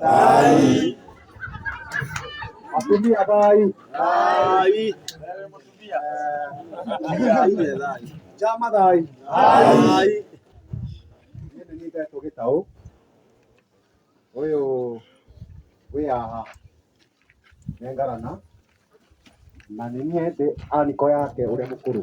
Rai. Matumbi ya Rai. Rai. Jama Rai. Rai. Nĩ nĩngetwo gĩtaũ ũyũ wĩ haha nengarana na nĩ niĩ ndĩ aniko yake ũrĩa mũkũrũ